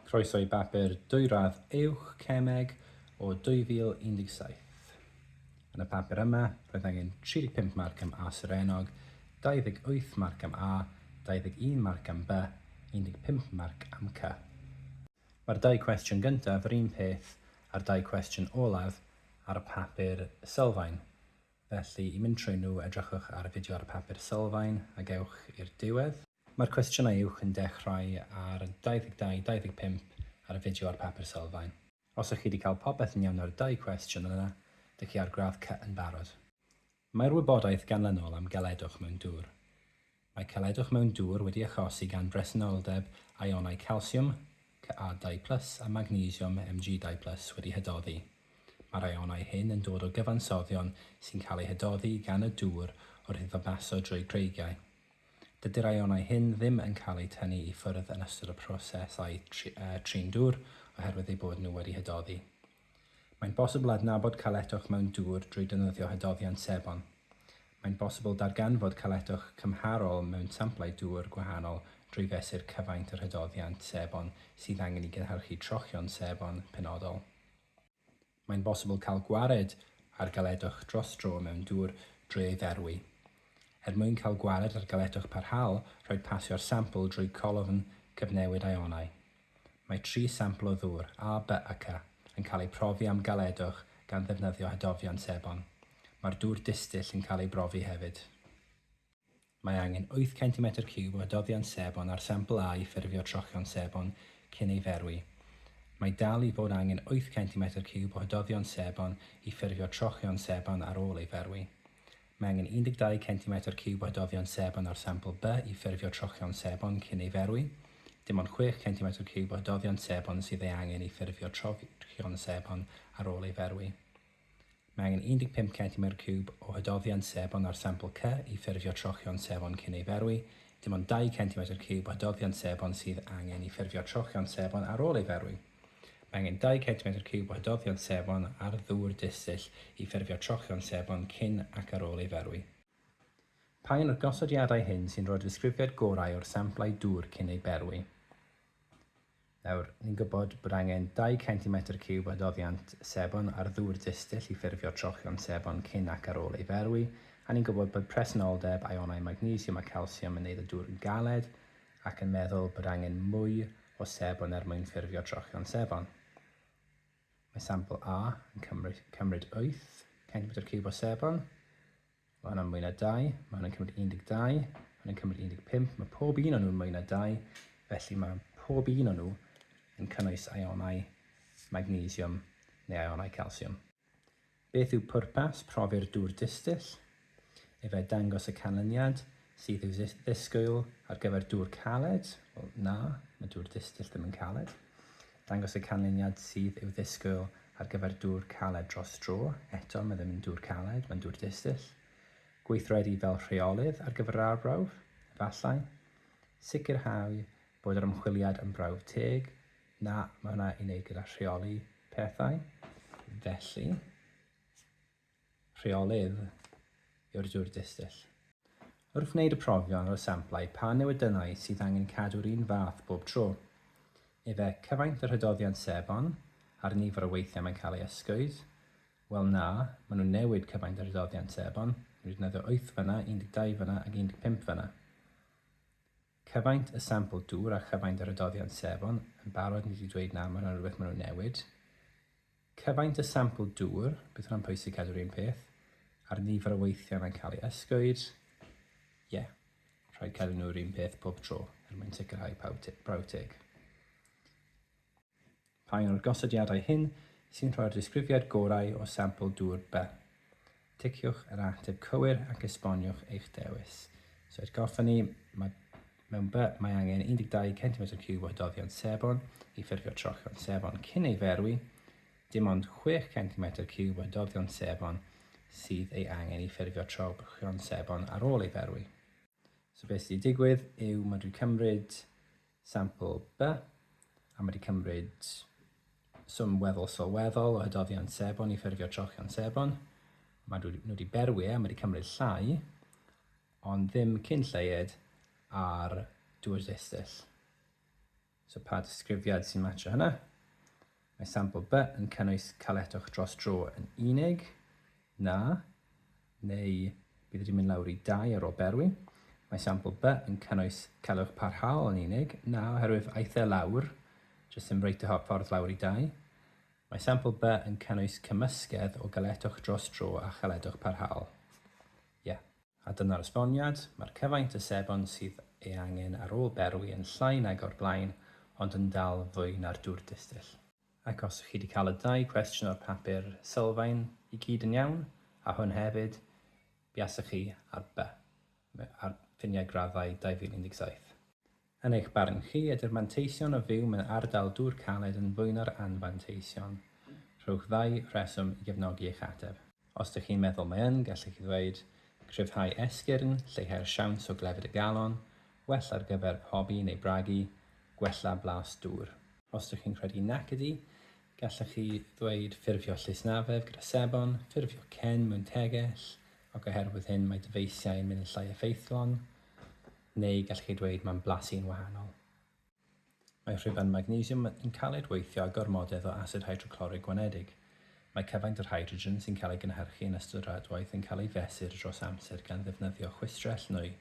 Croeso i bapur dwyradd uwch cemeg o 2017. Yn y papur yma, roedd angen 35 marc am A Surenog, 28 marc am A, 21 marc am B, 15 marc am C. Mae'r dau cwestiwn gyntaf yr un peth â'r dau cwestiwn olaf ar papur sylfaen, felly i mynd trwy nhw edrychwch ar y fideo ar y papur sylfaen ac ewch i'r diwedd. Mae'r cwestiynau uwch yn dechrau ar y 22, 25 ar y fideo a'r papur sylfaen. Os ych chi 'di cael popeth yn iawn ar y dau cwestiwn yna, dych chi ar gradd C yn barod. Mae'r wybodaeth ganlynol am geledwch mewn dŵr. Mae celedwch mewn dŵr wedi achosi gan bresenoldeb ïonau calsiwm, Ca dau plus, a magnesiwm, Mg dau plus, wedi hydoddi. Mae'r ïonau hyn yn dod o gyfansoddion sy'n cael eu hydoddi gan y dŵr wrth iddo baso drwy greigiau. Dydy'r ïonau hyn ddim yn cael eu tynnu i ffwrdd yn ystod y prosesau trin dŵr oherwydd eu bod nhw wedi hydoddi. Mae'n bosibl adnabod caletwch mewn dŵr drwy defnyddio hydoddiant sebon. Mae'n bosibl darganfod caletwch cymharol mewn samplau dŵr gwahanol drwy fesur cyfaint yr hydoddiant sebon sydd angen i gynhyrchu trochion sebon penodol. Mae'n bosibl cael gwared ar galedwch dros dro mewn dŵr drwy ei ferwi. Er mwyn cael gwared ar galedwch parhaol, rhaid pasio'r sampl drwy colofn cyfnewid ionau. Mae tri sampl o ddŵr, A, B a C, yn cael eu profi am galedwch gan ddefnyddio hydofion sebon. Mae'r dŵr distyll yn cael ei brofi hefyd. Mae angen wyth centimetr ciwb o adoddiant sebon ar sampl A i ffurfio trochion sebon cyn ei ferwi. Mae dal i fod angen wyth centimetr ciwb o adoddiant sebon i ffurfio trochion sebon ar ôl ei ferwi. Mae angen 12 centimetr ciwb o adoddiant sebon ar sampl B i ffurfio trochion sebon cyn ei ferwi. Dim ond chwech centimetr ciwb o adoddiant sebon sydd ei angen i ffurfio trochion sebon ar ôl ei ferwi. Mae angen 15 centimedr ciwb o hydofiant sebon ar sampl C i ffurfio trochion sebon cyn ei ferwi, dim ond 2 centimedr ciwb o hydofiant sebon sydd angen i ffurfio trochion sebon ar ôl ei ferwi. Mae angen 2 centimedr ciwb o hydofiant sebon ar ddŵr distyll i ffurfio trochion sebon cyn ac ar ôl ei ferwi. Pa un o'r gosodiadau hyn sy'n rhoi'r ddisgrifiad gorau o'r samplau dŵr cyn eu berwi? Nawr, ni'n gwybod bod angen dau centimetr ciwb adoddiant sebon ar ddŵr distyll i ffurfio trochion sebon cyn ac ar ôl ei ferwi, a ni'n gwybod bod presenoldeb aionau magnesiwm a calsiwm yn neud y dŵr yn galed, ac yn meddwl bod angen mwy o sebon er mwyn ffurfio trochion sebon. Mae sampl A yn cymryd wyth centimetr ciwb o sebon, Mae hwnna'n mwy na dau, mae hwnna'n cymryd 12, mae hwnna'n cymryd 15, mae pob un o'n nhw'n mwy na dau, felly mae pob un o'n nhw yn cynnwys ionau magnesiwm neu ionau calsiwm. Beth yw pwrpas profi'r dŵr distyll? Efe dangos y canlyniad, Sydd i'w ddisgwyl ar gyfer dŵr caled? Wel, na, mae dŵr distill ddim yn caled. Dangos y canlyniad sydd i'w ddisgwyl ar gyfer dŵr caled dros dro. Eto, mae ddim yn dŵr caled, mae'n dŵr distill. Gweithredu fel rheolydd ar gyfer yr arbrawf? Efallai. Sicrhau bod yr ymchwiliad yn brawf teg? Na, mae hwnna i wneud gyda rheoli pethau. Felly, rheolydd yw'r dŵr distill. Wrth wneud y profion ar y samplau pa newidynnau sydd angen cadw'r un fath bob tro? Efe, cyfaint yr hydoddiant sebon, a'r nifer o weithiau mae'n cael ei ysgwyd? Wel na, maen nhw'n newid cyfaint yr hydoddiant sebon, maen nhw'n defnyddio wyth fynna, 12 fynna ac 15 fynna. Cyfaint y sampl dŵr a chyfaint yr hydoddiant sebon, yn barod ni wedi dweud na, mae hwnna'n rhywbeth maen nhw'n newid. Cyfaint y sampl dŵr, bydd hwnna'n pwysig cadw'r un peth, a'r nifer o weithiau mae'n cael ei ysgwyd. Ie, yeah. rhaid cadw nhw'r un peth pob tro er mwyn sicrhau prawf teg. Pa un o'r gosodiadau hyn sy'n rhoi'r disgrifiad gorau o sampl dŵr B? Ticiwch yr ateb cywir ac esboniwch eich dewis. So atgoffa ni, mae mewn by mae angen 12 centimetr ciwb o doddion sebon i ffurfio trochion sebon cyn ei ferwi, dim ond 6 centimetr ciwb o doddion sebon sydd ei angen i ffurfio trochion sebon ar ôl ei ferwi. So beth sydd wedi digwydd yw mae dwi cymryd Sampl, By, am wedi cymryd swm weddol sylweddol o hydofion sebon i ffurfio trochion sebon. Mae nhw nhw wedi berwi e, am wedi cymryd llai, ond ddim cyn lleied ar dŵr distyll. So pa disgrifiad sy'n matcho hynna? Mae sampl B yn cynnwys caletwch dros dro yn unig, na, neu bydd wedi mynd lawr i 2 ar ôl berwi. Mae sampl B yn cynnwys caletwch parhaol yn unig, na, oherwydd aeth e lawr, jyst ddim reit y ffordd lawr i 2. Mae sampl B yn cynnwys cymysgedd o galetwch dros dro a chaletwch parhaol. Ie. Yeah. A dyna'r esboniad, mae'r cyfaint o sebon sydd ei angen ar ôl berwi yn llai nag o'r blaen, ond yn dal fwy na'r dŵr distill. Ac os chi 'di cael y dau cwestiwn o'r papur sylfaen i gyd yn iawn, a hwn hefyd, buasech chi ar by ar ffiniau graddau 2017. Yn eich barn chi, ydy'r manteision o fyw mewn ardal dŵr caled yn fwyno'r anfanteision? Rhowch ddau reswm i gefnogi eich ateb. Os dych chi'n meddwl mae yn, gallech chi ddweud, Cryfhau esgyrn, lleihau'r siawns o glefyd y galon, well ar gyfer pobi neu bragu, gwella blas dŵr. Os dych chi'n credu nac ydy, gallech chi ddweud Ffurfio llysnafedd gyda sebon, ffurfio cen mewn tegell, ac oherwydd hyn mae dyfeisiau yn mynd yn llai effeithlon. Neu gallwch chi ddweud mae'n blasu'n wahanol. Mae rhuban magnesiwm yn cael ei dweithio â gormodedd o asid hydroclorig gwanedig. Mae cyfaint yr hydrogen sy'n cael ei gynhyrchu yn ystod yr adwaith yn cael ei fesur dros amser gan ddefnyddio chwistrell nwy.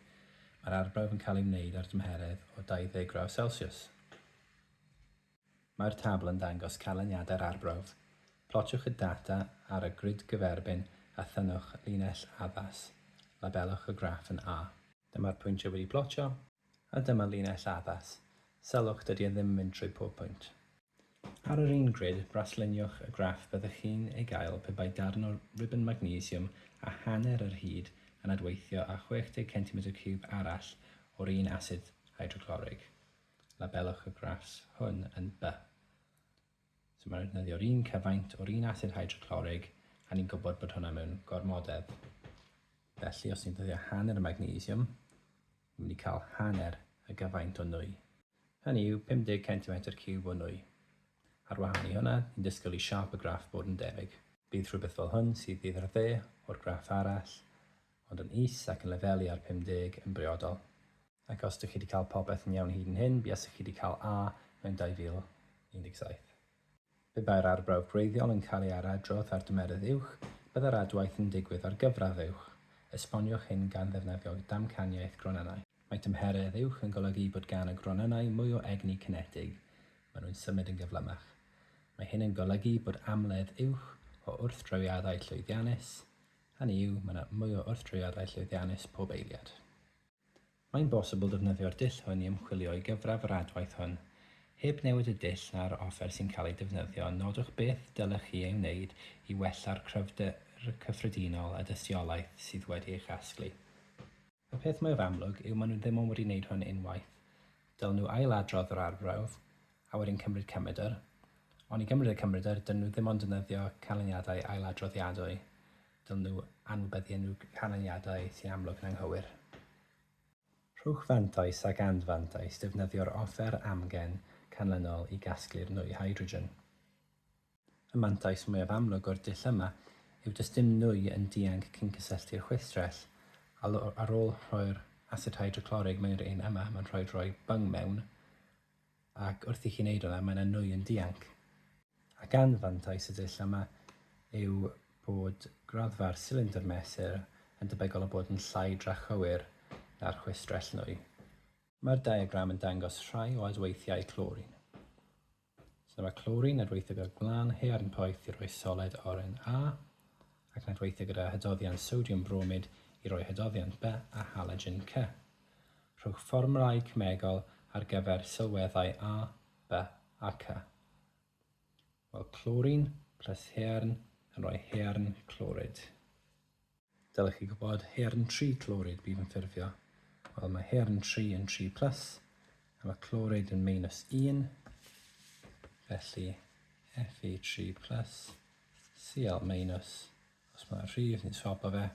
Mae'r arbrawf yn cael ei wneud ar dymheredd o 20 gradd Celsiws. Mae'r tabl yn dangos canlyniadau'r arbrawf. Plotiwch y data ar y grid gyferbyn a thynnwch linell addas. Labelwch y graff yn A. Dyma'r pwyntiau wedi plotio, a dyma linell addas. Sylwch, dydy e ddim yn mynd trwy pob pwynt. Ar yr un grid, brasluniwch y graff fyddwch chi'n ei gael pe bai darn o ribyn magnesiwm a hanner yr hyd yn adweithio â 60 centimetr ciwb arall o'r un asid hydroclorig. Labelwch y graffs hwn yn by. So mae'n defnyddio'r un cyfaint o'r un asid hydroclorig a ni'n gwybod bod hwnna mewn gormodedd. Felly os ni'n dyddio hanner y magnesium, ni'n mynd i cael hanner y gyfaint o nwy. Hynny yw 50 centimetr ciwb o nwy. Ar wahân i hwnna, ni'n disgwyl i siâp y graff bod yn debyg. Bydd rhywbeth fel hwn sydd i'r dde o'r graff arall, ond yn is ac yn lefelu ar 50 yn briodol. Ac os dych chi wedi cael popeth yn iawn hyd yn hyn, buasech chi wedi cael A mewn 2017. Pe bai'r arbrawf gwreiddiol yn cael ei ailadrodd ar dymerydd uwch, byddai'r adwaith yn digwydd ar gyfradd uwch. Esboniwch hyn gan ddefnyddio damcaniaeth gronynnau. Mae tymheredd uwch yn golygu bod gan y gronynnau mwy o egni cinetig, maen nhw'n symud yn gyflymach. Mae hyn yn golygu bod amledd uwch o wrthdrawiadau llwyddiannus, hynny yw, mae yna mwy o wrthdrawiadau llwyddiannus pob eiliad. Mae'n bosibl defnyddio'r dull hwn i ymchwilio i gyfradd yr adwaith hwn. Heb newid y dull na'r offer sy'n cael ei defnyddio, nodwch beth dylech chi ei wneud i wella'r cryfder cyffredinol a dystiolaeth sydd wedi ei chasglu. Y peth mwyaf amlwg yw maen nhw ddim ond wedi wneud hwn unwaith. Dylen nhw ail-adrodd yr arbrawf, a wedyn cymryd cymrydr. Ond i gymryd y cymrydr, dylen nhw ddim ond defnyddio canlyniadau ail-adroddiadwy. Dylwn nhw anwybyddu unrhyw ganlyniadau sy'n amlwg yn anghywir. Rhowch fantais ac anfantais defnyddio'r offer amgen canlynol i gasglu'r nwy hydrogen. Y mantais mwyaf amlwg o'r dull yma yw does dim nwy yn dianc cyn cysylltu'r chwistrell. Ar ôl rhoi'r asid hydroclorig mewn i'r un yma, mae'n rhaid rhoi byng mewn, Ac wrth i chi wneud hwnna, mae 'na nwy yn dianc. Ac anfantais y dull yma yw bod graddfa'r silindr mesur yn debygol o bod yn llai drachywir na'r chwistrell nwy. Mae'r diagram yn dangos rhai o adweithiau clorin. So dyma clorin yn adweithio gyda'r gwlân haearn poeth i roi soled oren A, ac yn adweithio gyda hydoddiant sodiwm bromid i roi hydoddiant B a halogen C. Rhowch fformwlâu cemegol ar gyfer sylweddau A, B a C. Wel clorin plus haearn yn rhoi haearn clorid. Dylech chi gwybod haearn tri clorid bydd yn ffurfio. Wel mae haearn tri yn tri plus a mae clorid yn minus un. Felly Fe3 plus Cl minus os mae rhif ni'n swapo fe.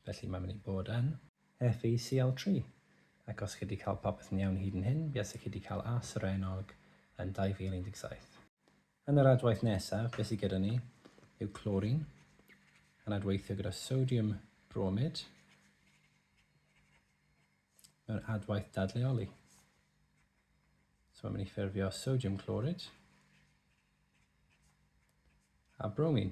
Felly mae'n mynd i bod yn FECL3, ac os chi wedi cael popeth yn iawn hyd yn hyn, buasech chi wedi cael A serennog yn 2017. Yn yr adwaith nesaf, be sydd gyda ni yw clorin yn adweithio gyda sodiwm bromid mewn adwaith dadleoli. So mae'n mynd i ffurfio sodiwm clorid a bromin.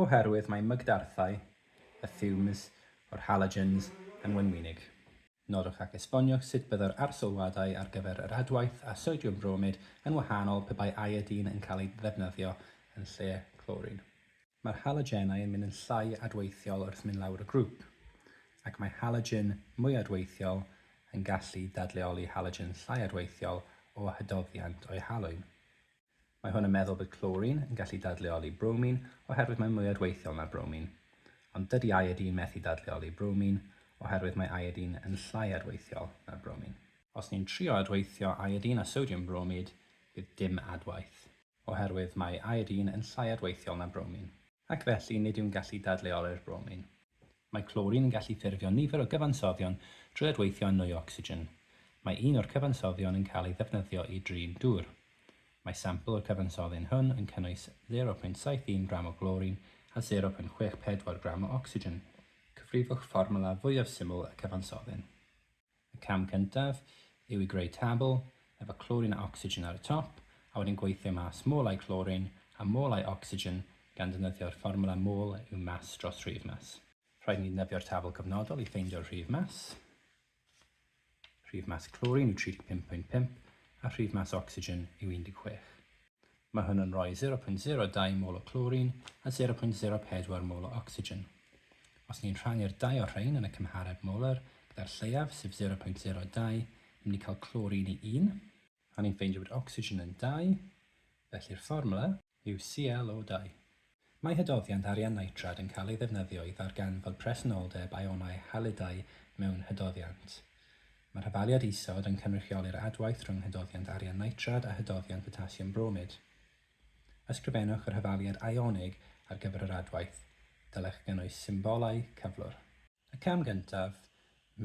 Oherwydd mae mygdarthau y fumes o'r halogens yn wenwynig. Nodwch ac esboniwch sut byddai'r arsylwadau ar gyfer yr adwaith â sodiwm bromid yn wahanol pe bai iodine yn cael ei ddefnyddio yn lle clorin. Mae'r halogenau yn mynd yn llai adweithiol wrth mynd lawr y grŵp, ac mae halogen mwy adweithiol yn gallu dadleoli halogen llai adweithiol o hydoddiant o'i halwyn. Mae hwn yn meddwl bod clorin yn gallu dadleoli bromin oherwydd mae'n mwy adweithiol na bromin. Ond dydy iodine methu dadleoli bromin oherwydd mae iodine yn llai adweithiol na bromin. Os ni'n trio adweithio iodine a sodiwm bromid, bydd dim adwaith. Oherwydd mae iodine yn llai adweithiol na bromin. Ac felly nid yw'n gallu dadleoli'r bromin. Mae clorin yn gallu ffurfio nifer o gyfansoddion drwy adweithio â nwy o ocsigen. Mae un o'r cyfansoddion yn cael ei ddefnyddio i drin dŵr. Mae sampl y cyfansoddyn hwn yn cynnwys 0.71 gram o glorin a 0.64 gram o ocsigen. Cyfrifwch fformwla fwyaf syml y cyfansoddyn. Y cam cyntaf yw i greu tabl, efo clorin a ocsigen ar y top, a wedyn gweithio mas molau clorin a molau ocsigen gan ddefnyddio'r fformwla mol yw mas dros rhif mas. Rhaid i ni ddefnyddio'r tabl cyfnodol i ffeindio'r rhif mas. Rhif mas clorin yw 35.5 a rhif mas ocsigen yw 16. Mae hwn yn rhoi 0.02 mol o clorin a 0.04 mol o ocsigen. Os ni'n rhannu'r dau o'r rhain yn y cymhareb molar gyda'r lleiaf, sef 0.02, ni'n mynd i cael clorin i 1, a ni'n ffeindio bod ocsigen yn 2, felly'r fformwla, yw CLO-dau. Mae hydoddiant arian nitrad yn cael ei ddefnyddio i ddarganfod presenoldeb ïonau halidau mewn hydoddiant. Mae rhyfaliad isod yn cynrychioli'r adwaith rhwng hydoddiant arian nitrad a hydoddiant potasiwm bromid. Ysgrifennwch yr hyfaliad ïonig ar gyfer yr adwaith. Dylech gynnwys symbolau cyflwr. Y cam gyntaf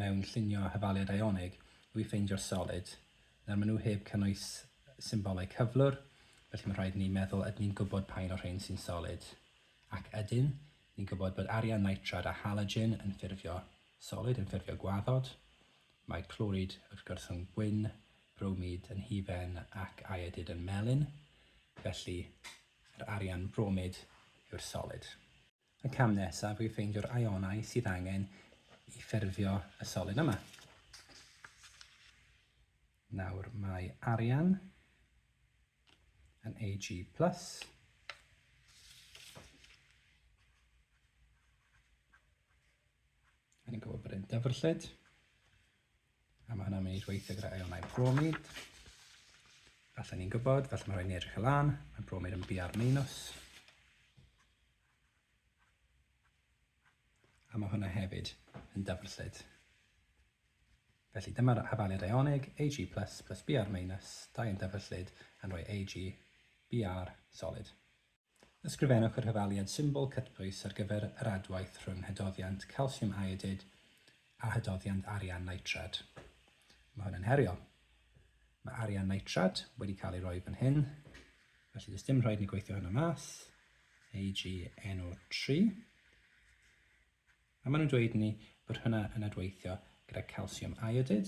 mewn llunio Hafaliad Ionig yw i ffeindio'r solid. Nawr maen nhw heb cynnwys symbolau cyflwr, felly mae'n rhaid i ni meddwl ydyn ni'n gwybod pa un o'r rhain sy'n solid. Ac ydyn, ni'n gwybod bod arian nitrad a halogen yn ffurfio solid, yn ffurfio gwaddod. Mae clorid wrth gwrs yn gwyn, bromid yn hufen ac iodid yn melyn, felly yr arian bromid yw'r solid. Y cam nesaf yw ffeindio'r ionau sydd angen i ffurfio y solid yma. Nawr mae arian yn Ag+, a ni'n gwybod bod e'n dyfrllyd, A mae hwnna'n mynd i weithio gyda ionau bromid. Felly ni'n gwybod, felly mae rhaid ni edrych y lan, mae bromid yn BR minus. A mae hwnna hefyd yn dyfrllyd. Felly dyma'r hafaliad ionig, Ag plus plus Br minus, dau yn dyfrllyd yn rhoi Ag Br solid. Ysgrifennwch y rhyfaliad symbol cytbwys ar gyfer yr adwaith rhwng hydoddiant calsiwm iodid a hydoddiant arian nitrad. Mae hwn yn heriol. Mae arian nitrad wedi cael ei roi fan hyn, felly does dim rhaid ni gweithio hynna mas. AgNO3. A maen nhw'n dweud i ni bod hwnna yn adweithio gyda calsiwm iodid.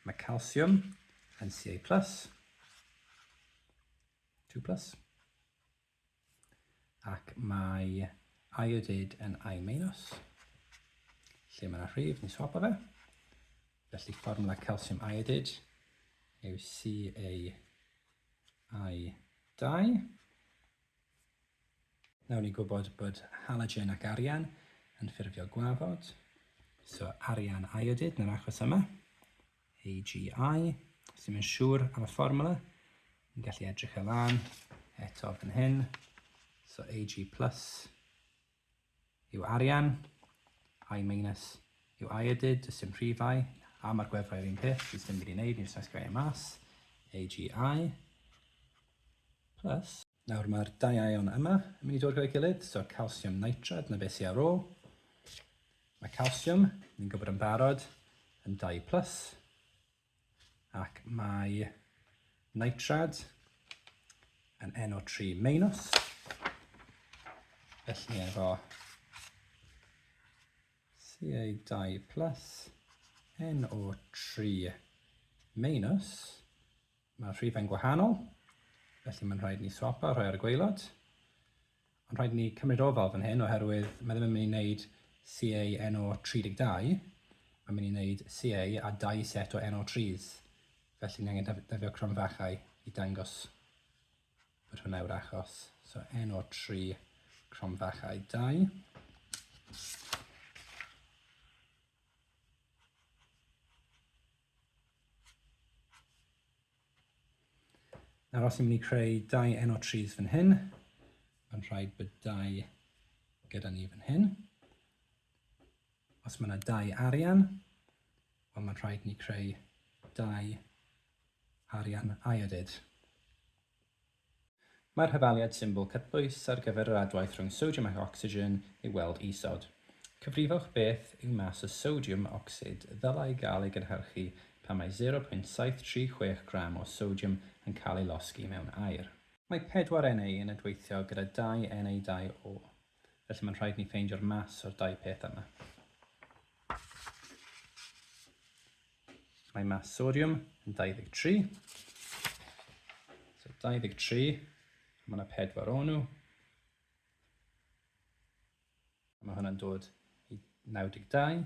Mae calsiwm yn Ca+, 2+, plus, ac mae iodid yn I-, minus, lle mae yna rhif, ni'n swapo fe. Felly fformwla calsiwm iodid yw CaI2. Nawr ni'n gwybod bod halogen ac arian yn ffurfio gwafod, so arian iodid yn yr achos yma, AgI, os ddim yn siŵr am y fformula, ni'n gallu edrych e lan eto fan hyn, so Ag plus yw arian, I minus, yw I edid, does dim rhifau, a mae'r gwefrau yr un peth, does dim byd i wneud, ni'n saesgrau e mas, AGI, plus. Nawr mae'r dau ion yma yn mynd i dod gyda'i gilydd, so calsiwm nitrad na beth sydd ar ôl. Mae calsiwm, ni'n gwybod yn barod, yn 2 plus, ac mae nitrad yn NO3 minus, felly efo Ca2 plus NO3 minus, mae'r rhifau'n gwahanol, felly mae'n rhaid ni swapa rhai ar y gwaelod. Ond rhaid i ni cymryd ofal fan hyn oherwydd mae ddim yn mynd i wneud CA NO 32, mae'n mynd i wneud CA a dau set o NO 3s, felly ni angen defnyddio cromfachau i dangos bod hwnna yw'r achos. So NO 3 cromfachau 2. Nawr os ni'n mynd i creu dau enw trees fan hyn, mae'n rhaid bod dau gyda ni fan hyn. Os mae yna dau arian, wel mae'n rhaid ni creu dau arian iodid. Mae'r hafaliad symbol cytbwys ar gyfer yr adwaith rhwng sodiwm ac ocsigen i'w weld isod. Cyfrifwch beth yw mas y sodiwm ocsid ddylai gael ei gynhyrchu pan mae 0.736 gram o sodiwm yn cael ei losgi mewn aer. Mae pedwar Na yn adweithio gyda dau Na-2O. Felly mae'n rhaid ni ffeindio'r mas o'r dau peth yma. Mae mas sodiwm yn 23. So 23, mae yna pedwar o'n nhw. Mae hwnna'n dod i 92.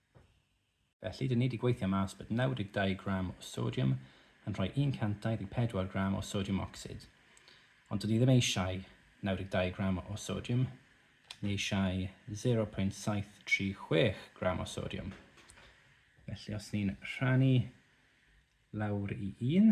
Felly, dyn ni 'di gweithio mas bod 92 gram o sodiwm yn rhoi 124 gram o sodiwm ocsid. Ond dyn ni ddim eisiau 92 gram o sodiwm, ni eisiau 0.736 gram o sodiwm. Felly, os ni'n rhannu lawr i 1,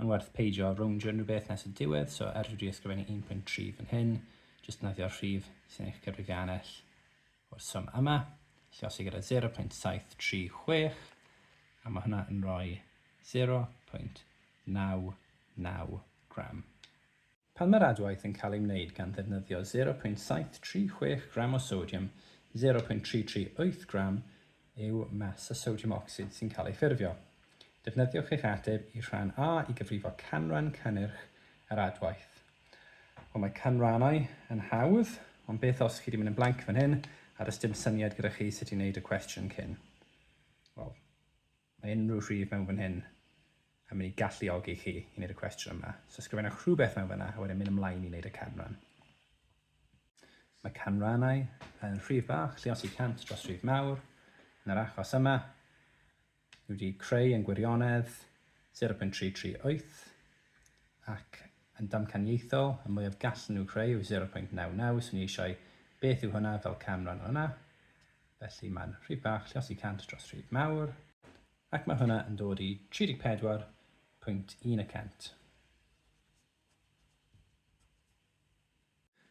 Mae'n werth peidio rowndio unrhyw beth nes y diwedd, so er dwi wedi ysgrifennu 1.3 fan hyn, jyst defnyddio'r rhif sy'n eich cyfrifiannell o'r swm yma, llosi gyda 0.736, a mae hwnna yn rhoi 0.99 gram. Pan mae'r adwaith yn cael ei wneud gan ddefnyddio 0.736 gram o sodiwm, 0.338 gram yw mas y sodiwm ocsid sy'n cael ei ffurfio. Defnyddiwch eich ateb i rhan A i gyfrifo canran cynnyrch yr adwaith. Wel, mae canrannau yn hawdd, ond beth os chi wedi mynd yn blanc fan hyn a does dim syniad gyda chi sut i wneud y cwestiwn cyn? Wel, Mae unrhyw rhif mewn fan hyn yn mynd i galluogi chi i wneud y cwestiwn yma. So ysgrifennwch rhywbeth mewn fanna a wedyn mynd ymlaen i wneud y canran. Mae canrannau yn rhif bach, lle os i 100 dros rhif mawr. Yn yr achos yma, ni wedi creu yn gwirionedd 0.338 ac yn damcaniaethol, y mwyaf gallen nhw creu yw 0.99, so ni eisiau beth yw hwnna fel canran o hwnna. Felly mae'n rhif bach lluosi 100 dros rhif mawr, ac mae hwnna yn dod i 34.1 y cant.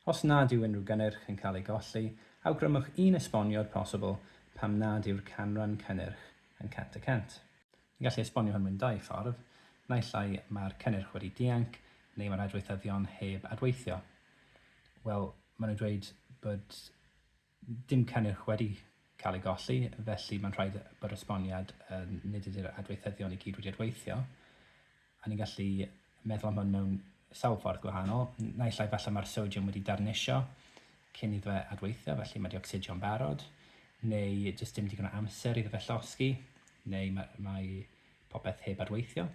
Os nad yw unrhyw gynnyrch yn cael ei golli, awgrymwch un esboniad posibl pam nad yw'r canran cynnyrch yn 100 y cant. Ni'n gallu esbonio hwn mewn dau ffordd, naill ai mae'r cynnyrch wedi dianc neu mae'r adweithyddion heb adweithio. Wel, maen nhw'n dweud bod Dim cynnyrch wedi cael ei golli, felly mae'n rhaid bod yr esboniad yn nid ydy'r adweithyddion i gyd wedi adweithio, a ni'n gallu meddwl am hwn mewn sawl ffordd gwahanol. Naill ai falle mae'r sodiwm wedi darnisio cyn iddo fe adweithio, felly mae wedi ocsidio'n barod, neu jyst dim digon o amser iddo fe llosgi, neu mae, mae popeth heb adweithio.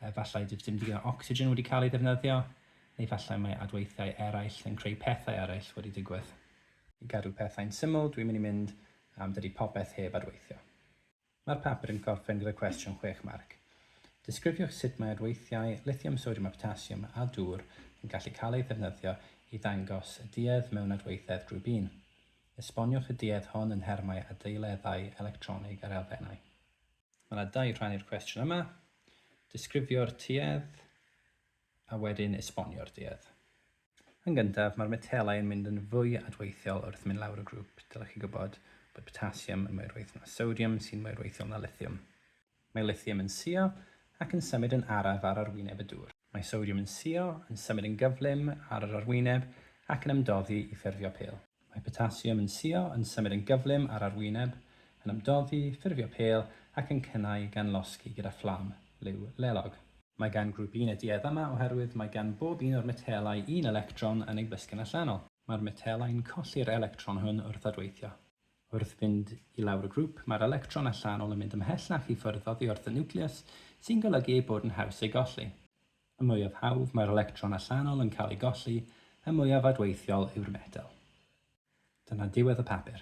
Efallai does dim digon o ocsigen wedi cael ei ddefnyddio, neu efallai mae adweithiau eraill yn creu pethau eraill wedi digwydd. I gadw pethau'n syml, dwi'n mynd i mynd am dydy popeth heb adweithio. Mae'r papur yn gorffen gyda cwestiwn chwech marc. Disgrifiwch sut mae adweithiau lithiwm, sodiwm a potasiwm a dŵr yn gallu cael eu ddefnyddio i ddangos y duedd mewn adweithedd grŵp un. Esboniwch y duedd hon yn nhermau adeileddau electronig ar elfennau. Mae yna dau rhan i'r cwestiwn yma, disgrifio'r tuedd a wedyn esbonio'r duedd. Yn gyntaf, mae'r metelau yn mynd yn fwy adweithiol wrth mynd lawr y grŵp. Dylech chi gwybod bod potasiwm yn mwy rwydd na sodiwm sy'n mwy rwythiol na lithiwm. Mae lithiwm yn suo ac yn symud yn araf ar arwyneb y dŵr. Mae sodiwm yn suo, yn symud yn gyflym ar yr arwyneb ac yn ymdoddi i ffurfio pêl. Mae potasiwm yn suo, yn symud yn gyflym ar arwyneb, yn ymdoddi, ffurfio pêl ac yn cynnau gan losgi gyda fflam liw lelog. Mae gan grŵp un y duedd yma oherwydd mae gan bob un o'r metelau un electron yn ei blisgyn allanol. Mae'r metelau yn colli'r electron hwn wrth adweithio. Wrth fynd i lawr y grŵp, mae'r electron allanol yn mynd ymhell ac i ffwrdd oddi wrth y niwclews, sy'n golygu ei bod yn haws ei golli. Y mwyaf hawdd mae'r electron allanol yn cael ei golli, y mwyaf adweithiol yw'r metel. Dyna ddiwedd y papur.